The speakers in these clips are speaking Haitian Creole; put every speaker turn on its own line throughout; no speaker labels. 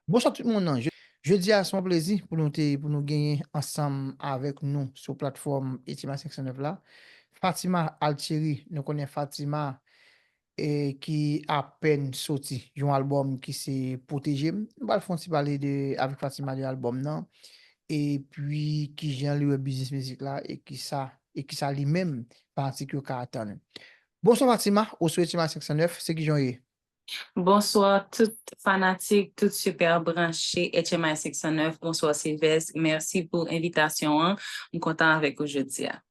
Bonswa tout moun nan, jodi a se yon plezi pou nou te pou nou genyen ansanm avèk nou sou platfòm Etima 509 la, Fatima Altieri, nou konnen Fatima ki apèn soti yon albòm ki se Pwoteje m, nou pral fè yon ti pale de avèk Fatima de albòm nan, epi kijan li wè biznis mizik la e kisa e kisa li menm fanatik yo ka atann. Bonswa Fatima ou sou Etima 509, se kijan w ye? Bonsoir
tout fanatik tout super branche HMI 509 bonsoir Sylvestre merci pou envitasyon an m kontan avèk ou jodia.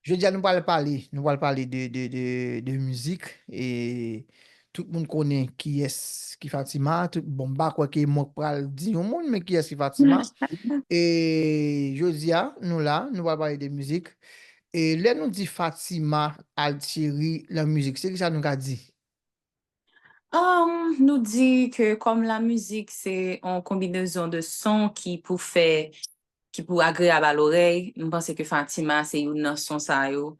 Jodia
nou pral pale nou pral pale de mizik e tout moun konnen kiyès ki Fatima tout bon m pa kwè ke mwen k pral di yon moun men kiyès ki Fatima e jodia nou la nou pral pale de mizik e lè nou di Fatima Altieri lan mizik se kisa nou ka di
Nou di ke kòm la mizik se yon konbinezon de son ki pou fè, ki pou agreyab a lorèy, m panse ke Fatima se youn nan son sa yo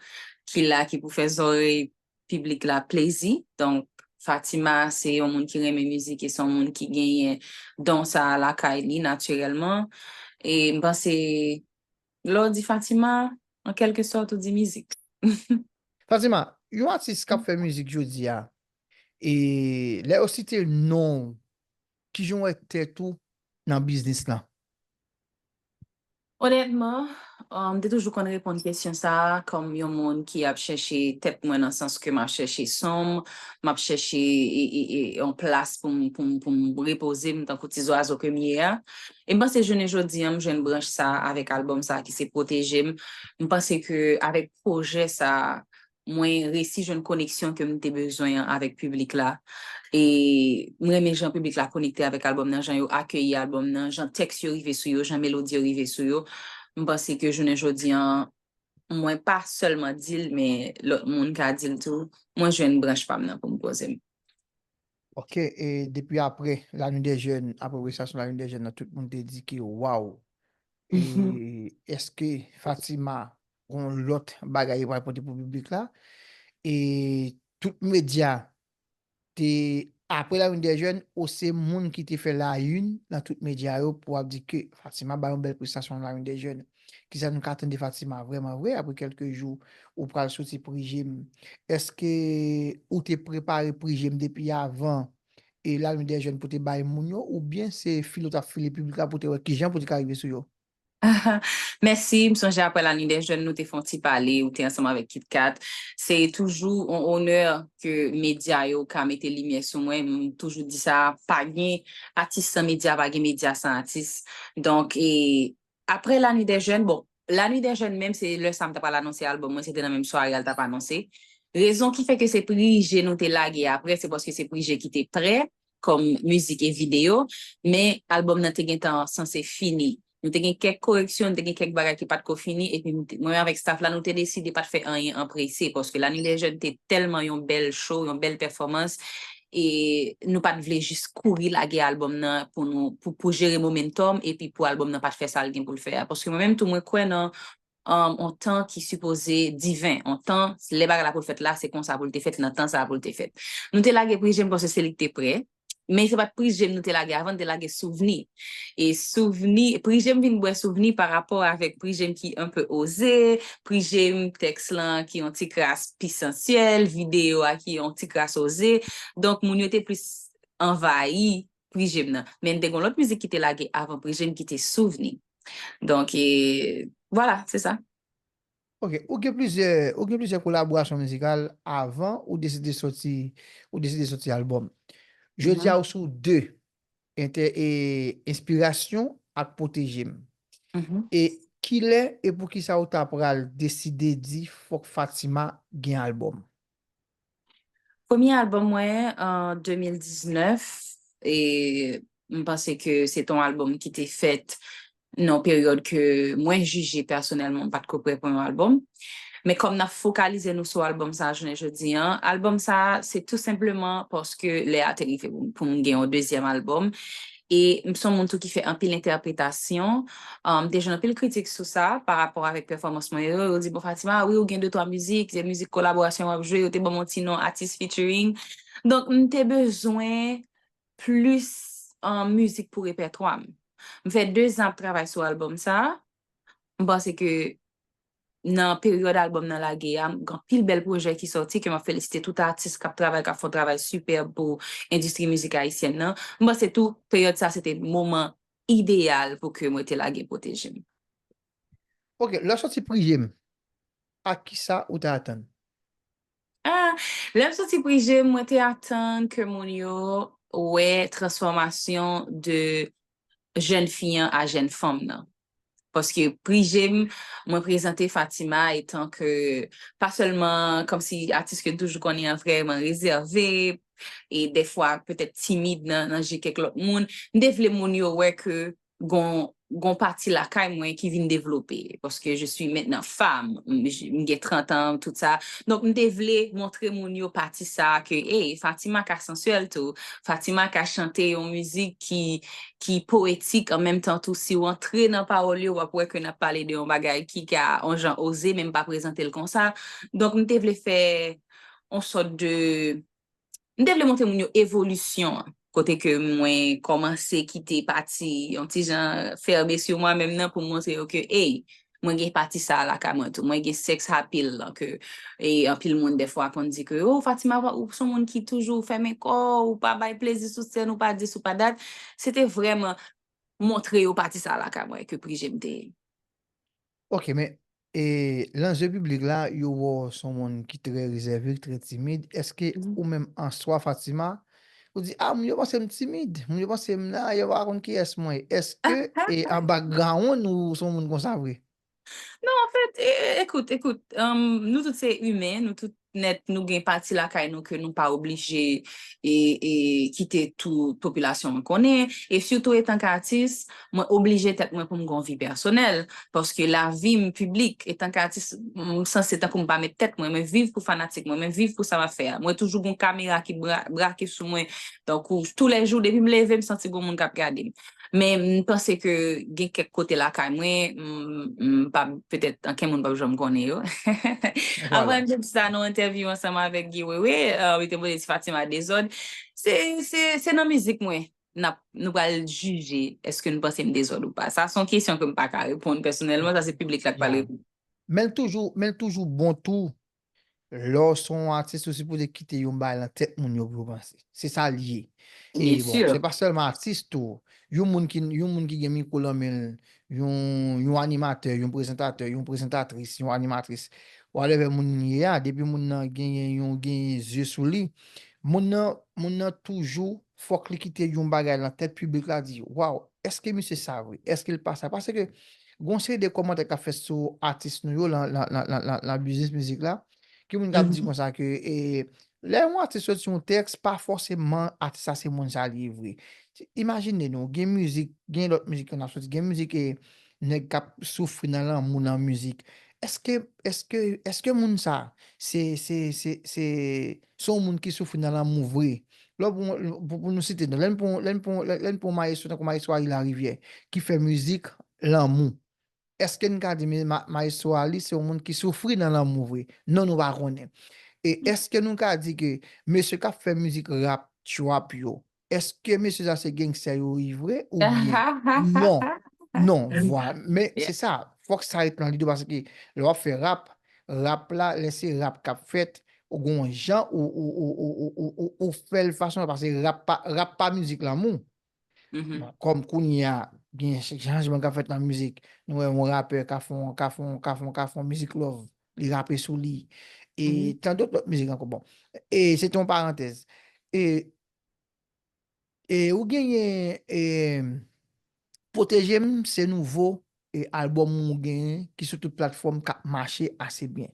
ki la ki pou fè zòrèy piblik la plezi. Donk Fatima se yon moun ki renmen mizik e se yon moun ki genyen don sa a lakay li natirèlman. E m panse Lè w di Fatima, an kèlke sòt ou di mizik. Fatima,
yon atis kap fè mizik jodi a, e lè yo site non w, ki jan w wè tèt ou nan biznis lan?
Onètman, m te toujou konn reponn kesyon sa a kòm yon moun ki ap chèche tèt mwen nan sans ke m ap chèche son m, m ap chèche yon plas pou m repoze m tankou ti zwazo ke m ye a. E m panse jounen jodi an m jwenn branch sa a avèk albòm sa a ki se Pwoteje m. M panse ke avèk pwojè sa a, mwen resi jwenn koneksyon ke m te bezwen an avèk piblik la. E m renmen jan piblik la konekte avèk albòm nan, jan yo akeyi albòm nan, jan tèks yo rive sou yo, jan melodi yo rive sou yo. M panse ke jounen jodi an, mwen pa sèlman di l men lòt moun ka di l tou, mwen jwenn branch pa m nan pou m poze m. Ok
e depi aprè la nuit des jeunes aprè prestasyon la nuit des jeunes nan tout moun te di ke waw e eske Fatima gon lòt bagay li pral pote pou piblik la e tout medya te aprè la nuit des jeunes ou se moun ki te fè la une nan tout medya yo pou ap di ke Fatima bay yon bèl prestasyon nan la nuit des jeunes Kisa nou ka atann de Fatima vrèman vre apre kèlke jou ou pral soti prije m? Èske ou te prepare prije m depi avan e Lalin dè Jèn pou te bay moun yo oubyen se file ou t ap file piblik la pou te wè kijan pou te ka rive sou yo?
Mèsi, m sonje apre Lalin dè Jèn nou te fè yon ti pale, ou te ansanm avèk Kit Kat. Se toujou yon onè ke medya yo ka mete limyè sou mwen, m toujou di sa, pa gen atis san medya, pa gen medya san atis. Donk, Aprè La Nuit des Jeunes, bon, La Nuit des Jeunes menm se lè sa m ta pral anonse albòm mwen, se te nan menm sware a l t ap anonse. Rezon ki fè ke se Prije nou te lage aprè, se paske se Prije ki te prè kòm mizik e videyo, men albòm nan te gentan sanse fini. Nou te gen kèk koreksyon, nou te gen kèk bagay ki pa t ko fini, epi m te, mwen avèk staff la, nou te deside pa t fè anyen an prese, paske La Nuit des Jeunes te tèlman yon bèl show, yon bèl pèfòmans, e nou pat vle jis kouri lage album nan pou nou pou jere momentum epi pou album nan pat fè sal gen poul fè a paske mwen menm tou mwen kwè nan on tan ki sipoze diven on tan lè bagay la pou fèt la se konsa poul te fèt nan tan sa poul te fèt nou te lage prizye m paske se li k te prè men se pat prizye m nou te lage avan nou te lage souvni E souvni, pri je m vin bwè souvni pa rapò avèk pri je m ki enpe oze, pri je m tèks lan ki yon ti kras pi sansyèl, videyo a ki yon ti kras oze. Donk moun yo te plis anvayi pri je m nan. Men te gen yon lòt mizik ki te lage avan pri je m ki te souvni. Donk e, vwala, se sa. Ok,
ou gen plizyè, ou gen plizyè kolaborasyon mizikal avan ou deside soti, ou deside soti albòm. Jodi a ou sou 2. Entè e enspirasyon ak pwoteje m. E
kilè
e poukisa ou ta pral deside di fòk Fatima gen albòm?
Premye albòm mwen an 2019 e m panse ke se te yon albòm ki te fèt nan peryòd ke mwen jije pèsonèlman m pat ko prè pou yon albòm. Men kòm n ap fokalize nou sou albòm sa jounen jodi an, albòm sa se tou senpleman paske lè a te rive pou m gen yon dezyèm albòm e m son moun tou ki fè anpil entèpretasyon, m te jwenn anpil kritik sou sa pa rapò avèk pèfòmans mwen yo, yo di bon Fatima wi ou gen de twa mizik, se mizik kolaborasyon w ap jwe, yo te ban m yon ti non atis featuring. Donk m te bezwen plis mizik pou repètwa m. M fè 2 zan ap travay sou albòm sa a. M panse ke nan peryòd albòm nan lage a, gen anpil bèl pwojè ki sòti ke m ap felisite tout atis k ap travay, k ap fè yon travay sipèb pou endistri mizik ayisyèn nan. M panse tou, peryòd sa a se te moman ideyal pou ke mwen te lage Pwoteje m.
Ok, lè w sòti Prije m, ak kisa ou te atann? Ah,
lè m soti pri je m, mwen te atann ke moun yo wè transfòmasyon de jèn fi an a jèn fanm nan. Paske pri je m, mwen prezante Fatima etan ke pa sèlman kòmsi atis ke n toujou konnen an vrèman rezève e dèfwa petèt timid nan je kèk lòt moun. M te vle moun yo wè ke gon pati lakay mwen ki vin devlope, paske je swi mentnan fam, m gen 30 an, tout sa, donk m te vle montre moun yo pati sa a ke ey, Fatima ka sansyèl tou, Fatima ka chante yon mizik ki powetik an menm tan tou, si w antre nan pawòl yo w ap wè ke n ap pale de yon bagay ki ka yon jan oze men m pa prezante l konsa, donk m te vle fè yon sòt de. m te vle montre moun yo evolisyon an, kote ke mwen kòmanse kite pati yon ti jan fèrme sou mwen menm nan pou m montre yo ke ey, mwen gen pati sa a lakay mwen tou, mwen gen sex appeal lan ke anpil moun dèfwa konn di ke oh Fatima ou son moun ki toujou fèmen kò w, ou pa bay plezi sou sèn, ou pa dis ou pa dat, se te vrèman montre yo pati sa a lakay mwen ke pri je m te.
Ok men E lan zye piblik la yo wè w son moun ki trè rezève, trè timid, eske ou menm an swa Fatima, ou di a moun yo panse m timid, moun yo panse m nan, yo pa konn kiyès mwen ye, eske e an background ou son moun konsa vre? Non anfèt,
ekout, ekout, nou tout se imen, nou tout nèt nou gen pati lakay nou ke nou pa oblije kite tou popilasyon mwen konnen e sitou etan k atis mwen oblije tèt mwen pou m gen yon vi pèsonèl paske lavi m piblik etan k atis m sanse tankou m pa mèt tèt mwen mwen viv pou fanatik mwen mwen viv pou sa m ap fè a mwen toujou gen yon kamera ki brake sou mwen tankou toulèjou depi m leve m santi gen yon moun k ap gade m. Men m panse ke gen kèk kote lakay mwen, m pa, petèt anken moun pap janm konnen yo. Avan
m te di
sa nan entèvyou ansanm avèk Guy Wewe, li te poze ti Fatima dezòd, se, se, se nan mizik mwen n ap, nou pral jije èske nou panse m dezòd ou pa. Sa se yon kesyon ke m pa ka reponn pèsonèlman, sa se piblik la k pral reponn. Men l toujou,
men l toujou bon tou Lè w son yon atis ou sipoze kite yon bagay nan tèt moun yo pou yo panse. Se sa l ye. E bon, se pa sèlman atis
tou.
Yon moun ki yon moun ki gen mikwo lan men l, yon yon animatè, yon prezantatè, yon prezantatris, yon animatris, whatever moun ye a, depi moun nan genyen yon genyen zye sou li, moun nan moun nan toujou Fòk li kite yon bagay lan tèt piblik la di waw eske misye sa vre eske li pa sa paske gon seri de kòmantè kap fèt sou atis nou yo lan biznis mizik la gen moun kap di konsa ke lè yon atis soti yon tèks pa fòseman atis sa se moun sa li ye vre imajine nou gen mizik gen lòt mizik ki ap soti gen mizik e nèg kap soufri nan lanmou nan mizik eske eske eske moun sa se se se se. Se yon moun ki soufri nan lanmou vre. Lè w pran, pou nou site non, lè n pran, lè n pran, lè n pran yon mayestwo tankou mayestwo Aly Lariviè ki fè mizik lanmou, èske n ka di mayestwo Aly se yon moun ki soufri nan lanmou vre? Non nou pa konnen. E èske nou ka di ke mesye k ap fè mizik rap, trap yo, Eske mesye sa se gangster yo ui vre ou byen? Non, non, vwa, men se sa, fòk sa
ret
nan lide w paske lè w ap fè rap, rap la, lè se rap k ap fèt, ou gon yon jan ou fè l fason paske rap pa, rap pa mizik lanmou. Kòm
kounye a,
gen chanjman k ap fèt nan mizik, nou wè yon rapè ka fè yon, ka fè yon, ka fè yon, ka fè yon mizik love, li rape sou li e tandòt
lòt mizik
ankò bon. E se te yon parantèz. E E ou genyen e Pwotejem se nouvo e album ou genyen ki sou tout platfòm kap mache ase byen.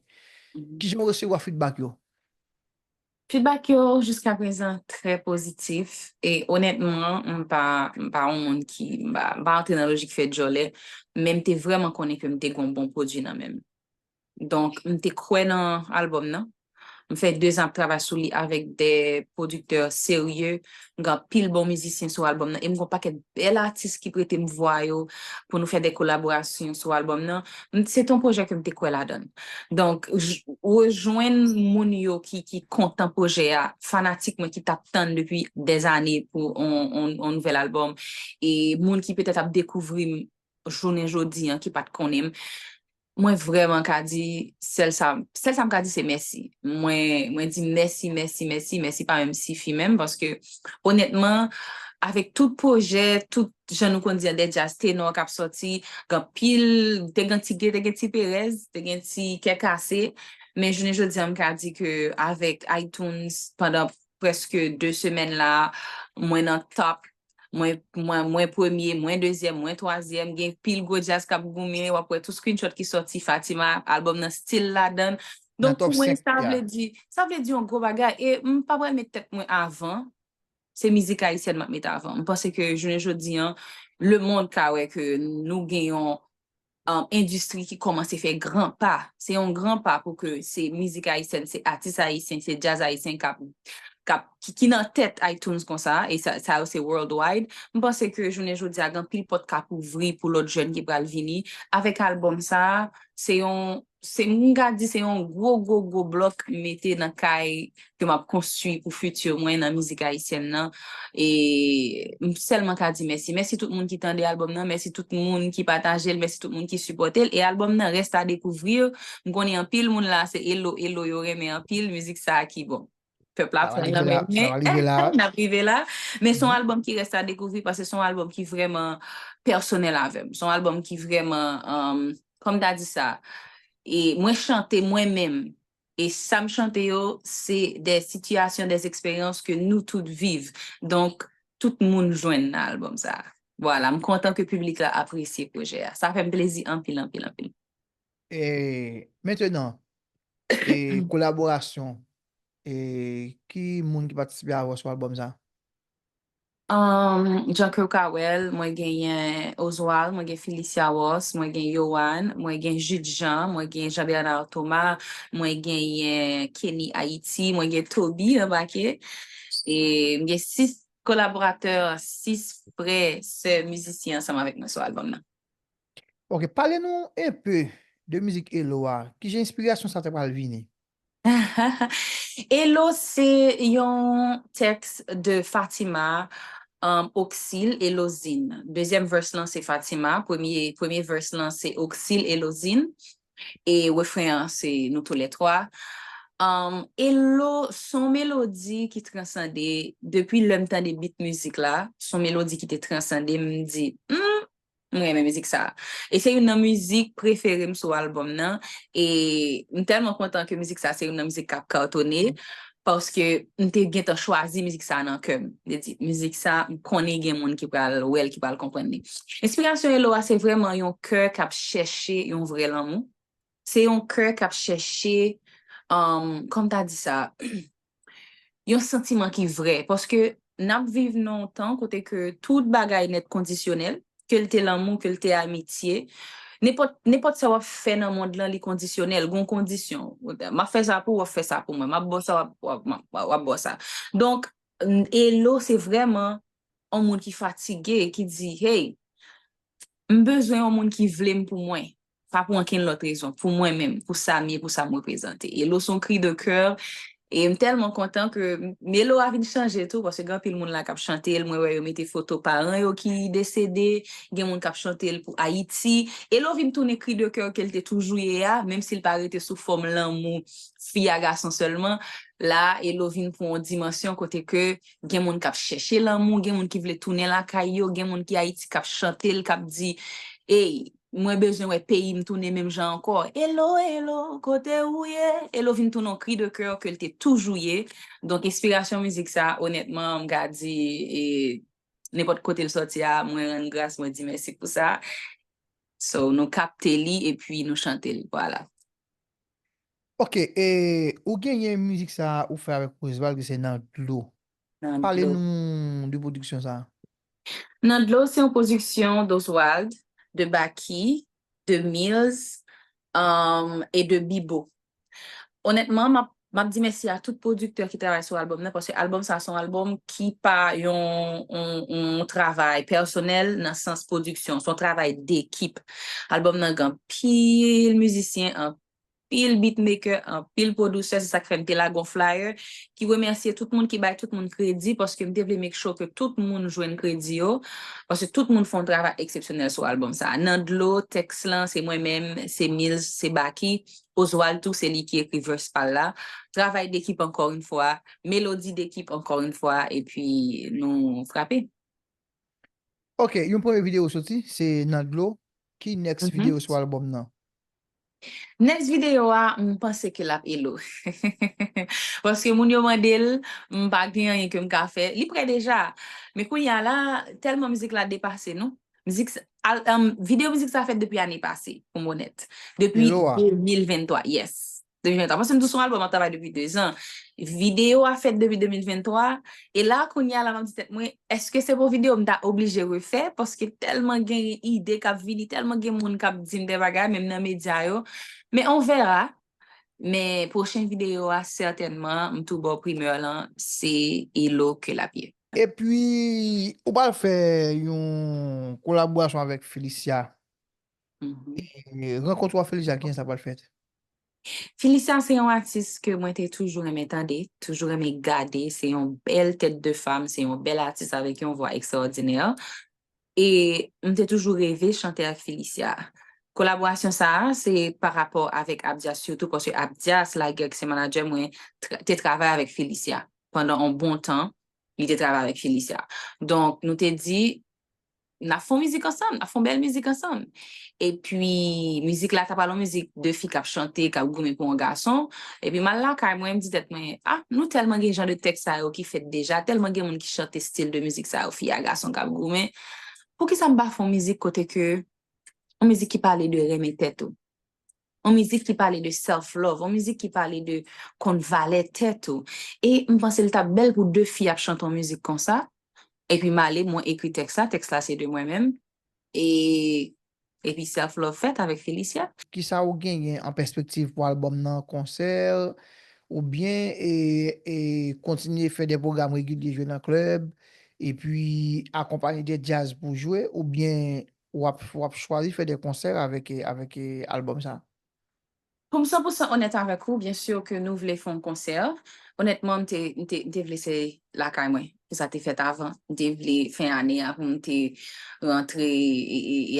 Kijan ou resevwa
feedback
yo?
Feedback yo jiska prezan trè pozitif e onètman m pa m pa yon moun ki m pa antre nan lojik fè djòlè men m te vrèman konnen ke m te gon bon pwodwi nan menm. Donk m te kwè nan album nan. M fè 2 zan ap travay sou li avèk 2 pwodiktè serye. M gen anpil bon mizisyen sou album nan e m gen yon pakèt bèl atis ki prete m vwa yo pou nou fè de kolaborasyon sou album nan. Se te yon pwojè ke m te kwè ladan l. Donk, rejwenn moun yo ki kontan pwojè a, fanatik mwen ki t ap tann depi dèzane pou yon nouvèl album e moun ki petèt ap dekouvri m jounen jodi an ki pa t konnen m, Mwen vrèman ka di sèl sa, sèl sa m ka di se mèsi. Mwen, mwen di mèsi, mèsi, mèsi, mèsi pa menm sifi menm paske onètman avèk tout pwojè, tout jan nou konn di an de djaz tenò k ap sòti, gen anpil, te gen ti, te gen ti perèz, te gen ti kè kase, men jounen jodi an m ka di ke avèk iTunes pandan prèske 2 semèn la, mwen nan top mwen mwen mwen premye, mwen dezyèm, mwen twazyèm, gen pil gwo djaz kap goumen, wap wè tout screenshot ki sòti Fatima, album nan still ladann. Nan Donk top pou mwen 5, sa
ya. vle di,
sa vle di yon gwo bagay e m pa pral met tèt mwen avan, se mizik ayisyèn map met avan. M panse ke jounen jodi an, lemond ka wè ke nou gen yon endistri ki kòmanse fè gran pa, se yon gran pa pou ke se mizik ayisyèn, se atis ayisyen, se djaz ayisyen k ap, k ap, ki nan tèt iTunes konsa, e sa yo se worldwide, m panse ke jounen jodi a gen anpil pòt k ap ouvri pou lòt jèn ki pral vini, avèk albòm sa a, se yon. se m ka di se yon gwo gwo gwo blòk m mete nan kay ke m ap konstwi pou fiti mwen nan mizik ayisyèn nan e m sèlman ka di mèsi. Mèsi tout moun ki tande albòm nan, mèsi tout moun ki pataje l, mèsi tout moun ki sipòte l e albòm nan reste à découvrir, m konnen anpil moun la se Elo Elo yo renmen anpil, mizik sa ki bon. Pèp la pran nan men men,
n ap rive la.
Men son albòm ki rèst a
dekouvri
paske son albòm ki vrèman pèsonèl avè m. Son albòm ki vrèman, kòm m ta di sa, e mwen chante mwen menm. E sa m chante yo, se de sitiyasyon, de eksperyans ke nou tout viv. Donk, tout moun jwenn nan albòm sa a. Vwala, m kontan ke piblik la apresye pwojè a. Sa fè m plezi anpil, anpil, anpil. E
mentenan, e kolaborasyon, e ki moun ki patisipe avè w sou albòm sa?
Jan ke w ka wè l, mwen genyen Oswald, mwen gen Phyllisia Ross, mwen gen Yohann, mwen gen Jude Jean, mwen gen Jean Bernard Thomas, mwen genyen Kenny Haiti, mwen gen Toby anbake. E m gen 6 kolaboratè, 6 frè, sè mizisyen ansanm avèk mwen sou albòm nan. Ok
pale nou un peu de mizik Elo a, ki jan enspirasyon sa ta pral vini?
Elo se yon tèks de Fatima Oxil Elozin. Dezyèm verse lan se Fatima, premye verse lan se Oxil Elozin e refren an se nou tou lè twa. Elo son melodi ki transande, depi lè m tande beat mizik la, son melodi ki te transande m, m di, humm M renmen mizik sa. E se youn nan mizik prefere m sou albòm nan. E m tèlman kontan ke mizik sa se youn nan mizik k ap katone. Paske m te gentan chwazi mizik sa nan kè m. M te di, mizik sa, m konnen gen moun ki pral wè l, ki pral konprann li. Enspirasyon Elo a se vrèman yon kè k ap chèche yon vrè lanmou. Se yon kè k ap chèche, kòman m ta di sa, yon santiman ki vrè. Paske n ap viv nan yon tan kote ke tout bagay nèt kondisyonèl, ke l te lanmou, ke l te amitye. Nenpòt, nenpòt sa w ap fè nan mond lan li kondisyonèl, gon kondisyon. M ap fè sa pou ou, w ap fè sa pou mwen. M ap ba w sa, w ap ba w sa. Donk, Elo se vrèman yon moun ki fatige, ki di, hey, m bezwen yon moun ki vle m pou mwen. pa pou ankenn lòt rezon, pou mwen menm, pou sa m ye, pou sa m reprezante. E lo s on kri de coeur, e m tèlman kontan ke melo a vin chanje tou, paske gen anpil moun la k ap chante l, mwen wè yo mete foto paran yo ki desede, gen moun k ap chante l pou Ayiti, e lo vin tounen kri de coeur ke l te toujou ye a, menm si l pa rete sou fòm lanmou fi a gason sèlman, la a e lo vin pran on dimansyon kote ke gen moun k ap chèche lanmou, gen moun ki vle tounen lakay yo, gen moun ki Ayiti k ap chante l, k ap di, ey! Mwen bezwen wè peyi m tounen menm jan ankò. Elo, elo, kote ou ye? Elo vin tounen yon kri de kè ke l te toujou ye. Donk enspirasyon mizik sa a onètman m ka di e nenpòt kote l sòti a mwen rann gras mwen di mèsi pou sa. So nou kapte li epi nou chante l. Vwala.
Ok e ou genyen mizik sa ou fè avèk Roosevald ki se nan dlo nan Pale dlo. nou
de pwodiksyon
sa a. Nan
dlo se yon pwodiksyon d'Oswald, de Baky, de Mills e de Bibo. Onètman, m ap di mèsi a tout pwodiktè ki travay sou albòm nan paske albòm sa a se yon albòm ki pa yon travay pèsonèl nan sans pwodiksyon. Se yon travay dekip. Albòm nan gen anpil mizisyen, anpil beatmaker, anpil producer, se sak fè m te lage yon flyer ki remèsye tout moun, ki bay tout moun kredi paske m te vle make sure ke tout moun jwenn kredi yo paske tout moun fè yon travay eksepsyonèl sou album sa. Nan dlo, tèks lan se mwen menm, se Mills, se Baky, Oswald tou se li ki ekri verse pa l la. Travay dekip ankò yn fwa, melodi dekip ankò yn fwa epi nou frape.
Ok yon premye video soti se nan dlo ki next video sou album nan?
Next video a m panse ke lap Elo paske moun yo mande l m pa gen anyen ke m ka fè li prè deja men kounye a la tèlman mizik la depase nou mizik video mizik sa fèt depi ane pase pou m onèt depi 2023
yes
2023, paske m di w se yon albòm m ap travay depi 2 zan. Videyo a fèt depi 2023, e la kounye a la m ap di tèt mwen, èske se pou videyo m ta oblije refè, paske tèlman gen ide k ap vini, tèlman gen moun k ap di m de bagay, menm nan medya yo. Men on verra. Men pwochen videyo a sètènman, m tou ba w primeur lan, se Elo ke l ap ye. Epi,
ou pral fè yon kolaborasyon avèk Félicia E rankont ou a Felicia kijan sa pral fèt? Felicia
se yon atis ke mwen te toujou renmen tande, toujou renmen gade, se yon bèl tèt de fam, se yon bèl atis avèk yon vwa ekstraòdinè. E m te toujou reve chante ak Felicia. Kolaborasyon sa a se pa rapò avèk Abdias sitou paske Abdias Laguerre ki se manadjè mwen te travay avèk Felicia pandan yon bon tan li te travay avèk Felicia. Donk nou te di n ap fè yon mizik ansanm, n ap fè yon bèl mizik ansanm. Epi, mizik la ta pral yon mizik de fi k ap chante, k ap goumen pou yon gason. Epi, m al lakay mwen, m di tèt mwen, a, nou tèlman gen jan de tèks sa yo ki fèt deja, tèlman gen moun ki chante stil de mizik sa yo, fi a gason k ap goumen, poukisa m pa fè yon mizik kote ke, yon mizik ki pale de renmen tèt ou? On mizik ki pale de self love, on mizik ki pale de konn valè tèt ou. E m panse l t ap bèl pou 2 fi ap chante on mizik konsa, epi m ale mwen ekri tèks la, tèks la se de mwen menm, e epi self love fèt avèk Félicia. Kisa ou genyen
an pèspektiv pou albòm nan, konsè, oubyen e kontinye fè de pwogram regilye jwe nan klèb, epi akonpanye de djaz pou jwe, oubyen Wap chwazi fè de konsè avèk album sa? Pou m
san pou san onèt avèk ou, byen sur ke nou vle fè yon konsè, onètman m te vle se lakay mwen ke sa te fèt avan, m te vle fen ane a pou m te rantre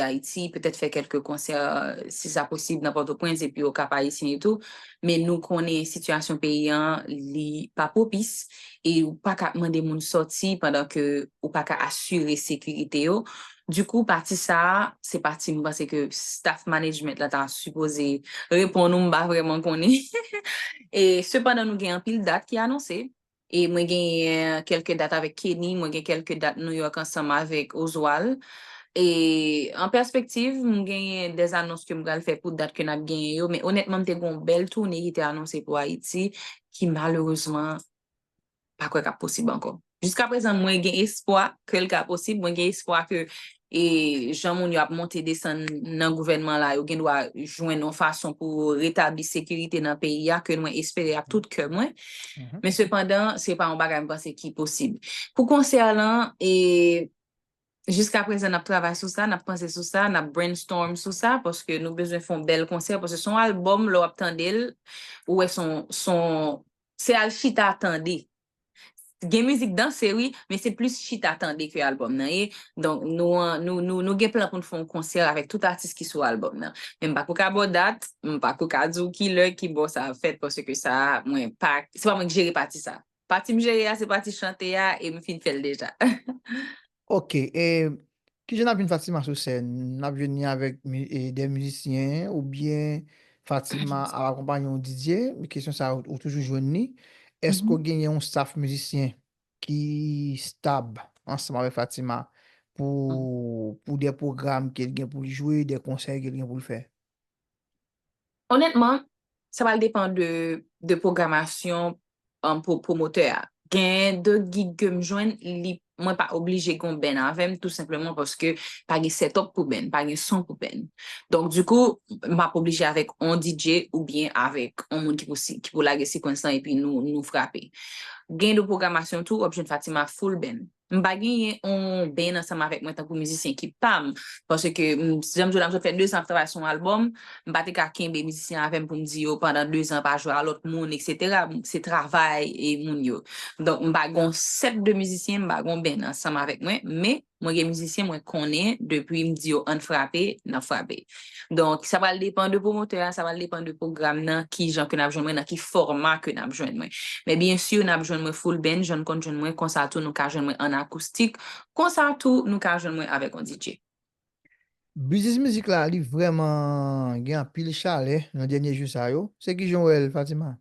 Ayiti, petèt fè kelke konsè si sa posib nan Pòtoprens epi o Kap Ayisyen etou, men nou konnen sitiyasyon peyi a li pa pwopis e ou paka mande moun sòti pandan ke ou paka asire sekirite yo, Du coup pati sa a se pati m panse ke staff management la ta sipoze reponn ou m pa vrèman konnen e sepandan nou gen anpil dat ki anonse e mwen genyen kèlke dat avèk Kenny mwen gen kèlke dat New York ansanm avèk Oswald e an pèspektiv m genyen des anons ke m pral fè pou dat ke n ap genyen yo men onètman m te gen yon bèl toune ki te anonse pou Ayiti ki malerezman pa kwè kap posib ankò. Jiska prezan mwen gen espwa ke l ka posib, mwen gen espwa ke e jan moun yo ap monte desann nan gouvènman la yo gen dwa jwenn yon fason pou yo retabli sekirite nan peyi a ke mwen espere ak tout kè mwen. Men sepandan se pa yon bagay mwen panse ki posib. Pou konsè lan e jiska prezan nap travay sou sa, nap panse sou sa, nap brainstorm sou sa paske nou bezwen fè yon bèl konsè paske se yon albòm lè wap tande l ou wè son son Se al chita tande. Gen mizik danse wi, men se plis chita tande ke album nan ye. Donk nou an, nou gen plan pou nou fè yon konsè avèk tout atis ki sou album nan. Men m pa ko ka ba w dat, m pa ko ka di w ki lè, ki bò sa ap fèt paske sa a mwen pa, se pa mwen ki jere pati sa a. Pati m jere a se pati chante a e m fin fè l deja. Ok,
e kijan nap jwenn Fatima sou sèn? Nap jwenn ni avèk de mizisyen oubyen Fatima ap akonpanye yon DJ? Kesyon sa ou toujou jwenn ni? Eske ou genyen yon staff mizisyen ki stab ansanm avèk Fatima pou de pwogram ke l gen pou l jwe, de konsè ke l gen pou l fè? Onètman,
sa pral depan de pwogramasyon pou pwomotè a. Gen de gig ke m jwenn, mwen pa oblije gen yon band avè m, tou senpleman paske pa gen sètòp pou band, pa gen son pou band. Donk dikou, m ap oblije avèk yon DJ oubyen avèk yon moun ki pou lage sequence lan epi nou frape. Gen de pwogramasyon tou, w ap jwenn Fatima full band. M pa genyen on band ansanm avèk mwen tankou mizisyen ki pa m. Paske, jan m di w la, m sot fè dezan ap travay sou yon albòm, m pa te ka kenbe mizisyen avè m pou m di yo pandan dezan pa jwe a lòt moun eksetera. Se travay moun yo. Donk, m pa gen yon sèt de mizisyen, m pa gen yon band ansanm avèk mwen, men, mwen gen mizisyen mwen konnen depi m di yo ann frape, n ap frape. Donk, sa pral depan de pwomotè a, sa pral depan de pwogram nan, ki jan ke n ap jwenn mwen, nan ki fòma ke n ap jwenn mwen. Men byen sur, n ap jwenn mwen full band, jan n konn jwenn mwen, konsa tou nou ka jwenn mwen an akoustik, konsa tou nou ka jwenn mwen avèk yon DJ.
Biznis mizik la, li vrèman gen anpil chalè nan dènye jou sa yo. Se ki jan w wè l, Fatima?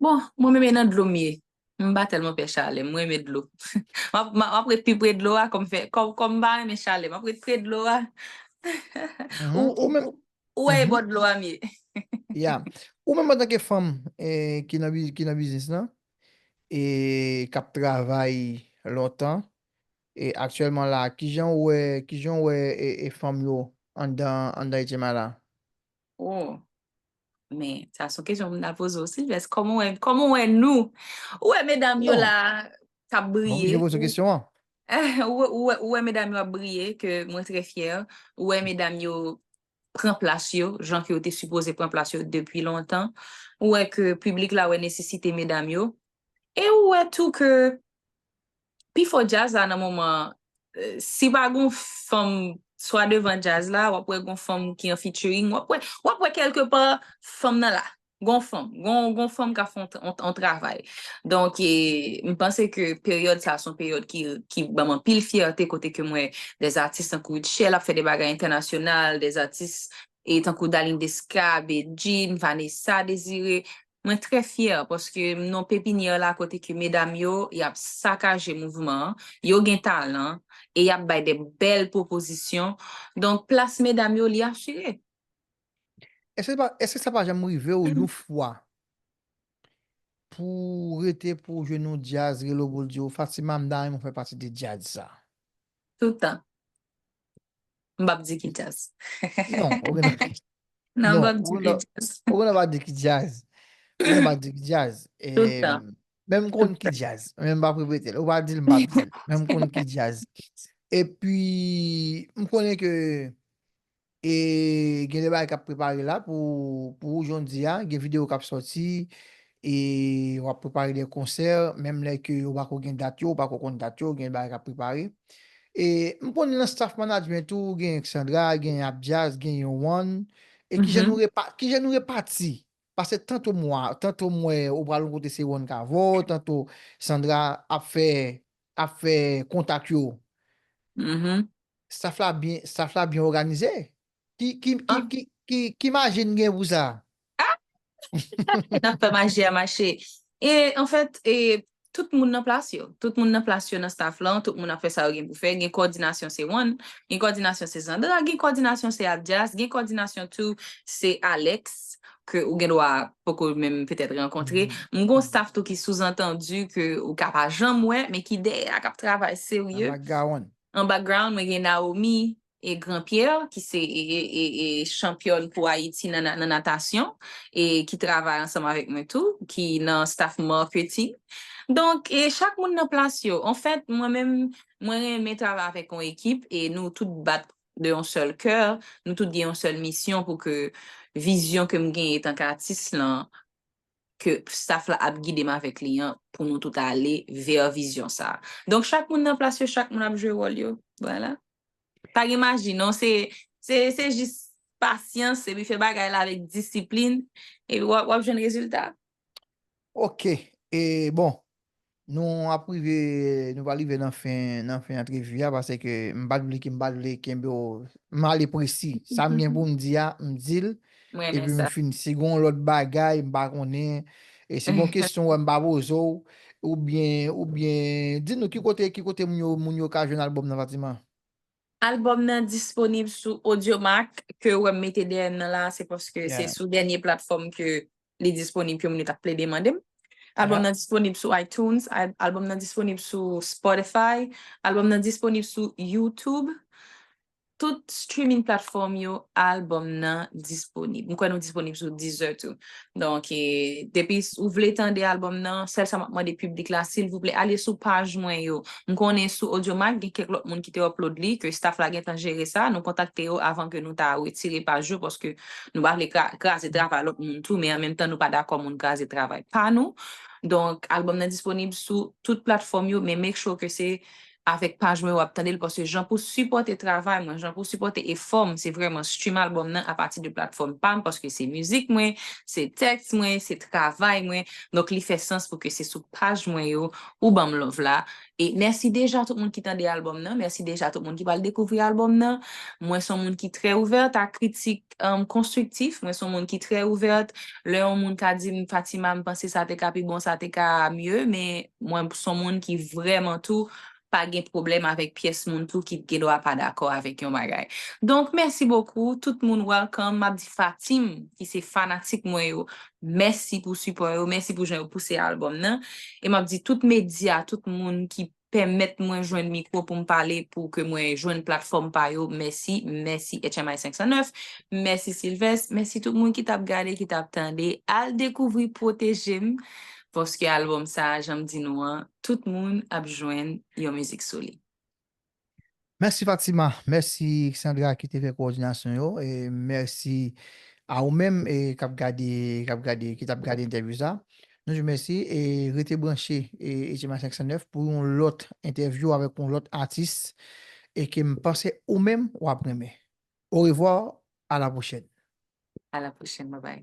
Bon, mwen menm e nan dlo m ye. M pa tèlman pè chalè, m renmen dlo. M ap ret pi pre dlo a, kòm m pa renmen chalè, m ap ret pre dlo a.
Ou wè e bò dlo
a m ye. Ya.
Ou menm antanke fanm ki nan biznis lan, e k ap travay lontan, e aktyèlman la, kijan ou wè fanm yo anndan Etcema la? Oh.
Men, sa son kesyon moun ap poze ou Silvès. Kòman wè, kòman wè nou? Ou wè medam yo la kap briye? Mwen oblije poze kesyon
an.
Ou wè medam yo ap briye ke mwen trè fyè. Ou wè medam yo pran plas yo, jan ke yo te sipoze pran plas yo depi lontan. Ou wè ke piblik la wè nesesite medam yo. E ou wè tou ke Pi fò djaz la nan moman an, si pa gon fanm swa devan djaz la, w ap wè gon fanm ki an featuring, w ap wè, w ap wè kèlke pa fanm nan la. Gon fanm, gon fanm k ap fè yon travay. Donk, m panse ke peryòd sa a se yon peryòd ki ban m anpil fyète kote ke m wè dè zatis tankou Rutshelle ap fè de bagay entènasyonal, dè zatis tankou Darline Desca, Bedjine, Vanessa Désiré, Mwen trè fyè paske m non pepinyè la kote ke medam yo y ap sakaje mouvman an, yo gen talan e y ap bay de bèl pwopozisyon, donk plas medam yo li asire.
Èske sa pa janm rive w yon fwa pou w rete pou w jwenn yon djaz rele w pou l di w Fatima m ta renmen w fè pati de djaz sa? Toutan.
M pap di ki djaz. Non, ou gen
dwa. Non,
m pap di ki
djaz.
Ou gen dwa pa di ki
djaz. Ou gen dwa pa di ki djaz. Tout
tan. Men m konn ki
djaz.
Men m pap
repete l. Ou pa di l, m pap di l. Men m konn ki djaz. E pi, m konnen ke e gen de bagay k ap prepare la pou ou jodia. Gen video k ap soti. E wap prepare de konsè menm lè ke ou pako gen dat yo, ou pako konn dat yo, gen bagay kap prepare. E m konnen nan staff management ou gen Xandra, gen Abdias, gen Yohann, e kijan nou repa, kijan
nou repati?
Pase tanto m wa, tanto m wè ou pral yon kote se Yohann k avè w, tanto Xandra ap fè, ap fè kontak yo.
Staff la byen,
staff la byen òganize? Ki, ki,
ki, ki, ki, ki
maji n gen pou sa?
Ahh! Nap fè maji a mache. E an fèt, e tout moun nan plas yo. Tout moun nan plas yo nan staff lan, tout moun ap fè sa yo gen pou fè. Gen kòdinasyon se Juan, gen kòdinasyon se Zandra, gen kòdinasyon se Abdias, gen kòdinasyon tou se Alex ke ou gen dwa poko menm petèt rankontre. M gon staff tou
ki
souzantandi ke ou ka pa janm wè men ki dèyè a kap travay serye. An background. An
background mwen
gen Naomi, e Grand Pierre ki se chanpyòn pou Ayiti nan natasyon e ki travay ansanm avèk mwen tou ki nan staff marketing donk chak moun nan plas yo anfèt mwen menm mwen renmen travay avèk yon ekip e nou tout bat de yon sèl kè nou tout gen yon sèl misyon pou ke vizyon kem gen etanke atis lan ke staff la ap gidem avèk li an pou nou tout ale vers vizyon sa. Donk chak moun nan plas yo, chak moun ap jwe wòl yo. Vwala. Pa gen maji non, se se se jis pasyans epi fè bagay la avèk disiplin epi wap wap jwenn rezilta. Ok,
e bon, Nou ap rive, nou pral rive nan fen, nan fen antrevi a, pase ke m pat vle ke, m pat vle kenbe w, m ale presi. Sa m gen pou m di a, m di l, M renmen epi m sa. fin.
Si
gen yon
lòt
bagay, m pa konnen, e si gen yon kesyon ou wè m pa poze w, oubyen, oubyen, di nou ki kote, ki kote moun yo, moun yo ka jwenn albòm nan Fatima? Albòm
nan disponib sou Audiomack, ke ou wè m mete dèyè m nan la a, se paske se sou dènye platfòm ke
li
disponib ke moun yo ta plede mande m. Albòm nan disponib sou
iTunes,
albòm nan disponib sou Spotify, albòm nan disponib sou YouTube. Tout streaming platform yo, albòm nan disponib. M kwè nou disponib sou Deezer tou. Donk, depi ou vle tande albòm nan, sèl sa m ap mande piblik la, silvouplè, ale sou paj mwen yo. M konnen sou Audiomack, gen kèk lòt moun ki te upload li, ke staff la gentan jere sa. Nou kontakte yo avan ke nou ta wetire paj yo, paske. Nou pa vle kraze travay lòt moun tou, men an menm tan nou pa dakò moun kraze travay pa nou. Donk, albòm nan disponib sou tout platfòm yo, men make sure ke se avèk paj mwen ou ap tande l, paske jan pou sipòte travay mwen, jan pou sipòte efò m, se vrèman stream albòm nan apati de platfòm pa m, paske se mizik mwen, se tèks mwen, se travay mwen, donk li fè sans pou ke se sou paj mwen yo ou ban m love la, E mèsi deja tout moun ki tande albòm nan, mèsi deja tout moun ki pral dekouvri albòm nan. Mwen son moun ki trè ouvèrt a kritik konstriktif, mwen son moun ki trè ouvèrt lè yon moun ka di m Fatima m panse sa te ka pi bon, sa te ka mye, men mwen son moun ki vrèman tou pa gen pwoblèm avèk pyès moun tou ki gen dwa pa dakò avèk yon bagay. Donk mèsi bokou, tout moun welcome, m ap di Fatim ki se fanatik mwen yo, Mèsi pou sipò yo, mèsi pou jan yo pouse albòm nan. E m ap di tout medya, tout moun ki pèmèt mwen jwenn mikwo pou m pale pou ke mwen jwenn platfòm pa yo, mèsi, mèsi HMI 509, mèsi Sylvest, mèsi tout moun ki t ap gade, ki t ap tande. Al dekouvri Pwoteje m, paske albòm sa a, jan m di nou an, tout moun ap jwenn yon mizik sou li.
Mèsi Fatima, mèsi Xandra ki te fè kowòdinasyon yo e mèsi a ou menm e k ap gade k ap gade ki t ap gade entèvyou sa nou di w mèsi e rete branche e Etye Maten 509 pou yon lòt entèvyou avèk yon lòt atis e ke m panse ou menm w ap renmen orevwa a la pwochèn. A la pwochèn
bye
bye.